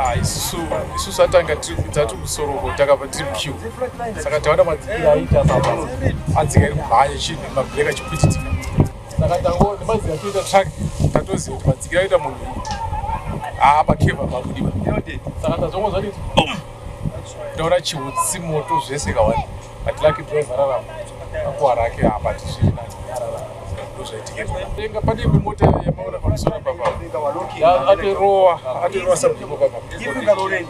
Ah, isusu isusu atanga tati musoroko takabva tiri muchiu saka taona madzikira aita atsika iri kumhanya chinhu mabheka chikuititi saka tango nemazira toita track tatoziva kuti madzikira aita munhu haa pakeva pakudiwa saka tazongo zvaditi taona chiutsi moto zvese kawani but lucky driver rarama akuwa rake haa but zviri nani ndozvaitiketenga padii pemota yamaona pamusoro papa atirowa atirowa sabdiko papa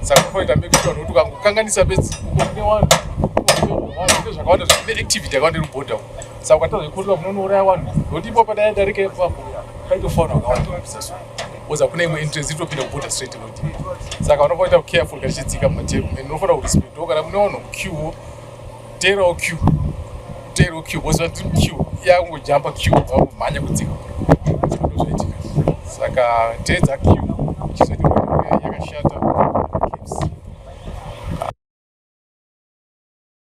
saka kunoita make sure nokuti ukangokanganisa bedzi ukokune vanhu zvinenge zvakawanda zvine activity yakawanda iri kubhodha uko saka ukatadza kukotoka munonouraya vanhu nokuti ipopa dai adarika ipapo paitofauna wakawanda kupisa so oza kune imwe entrance itopinda kubhodha straight inodii saka vanofanira kuita careful kachidzika mumateru and unofanira kurespect wo kana mune vanhu muquewo teerawo q teerawo q voziva tiri q yakungojamba q vakumhanya kudzika ndozvaitika saka teedza q chizotiaa yakashata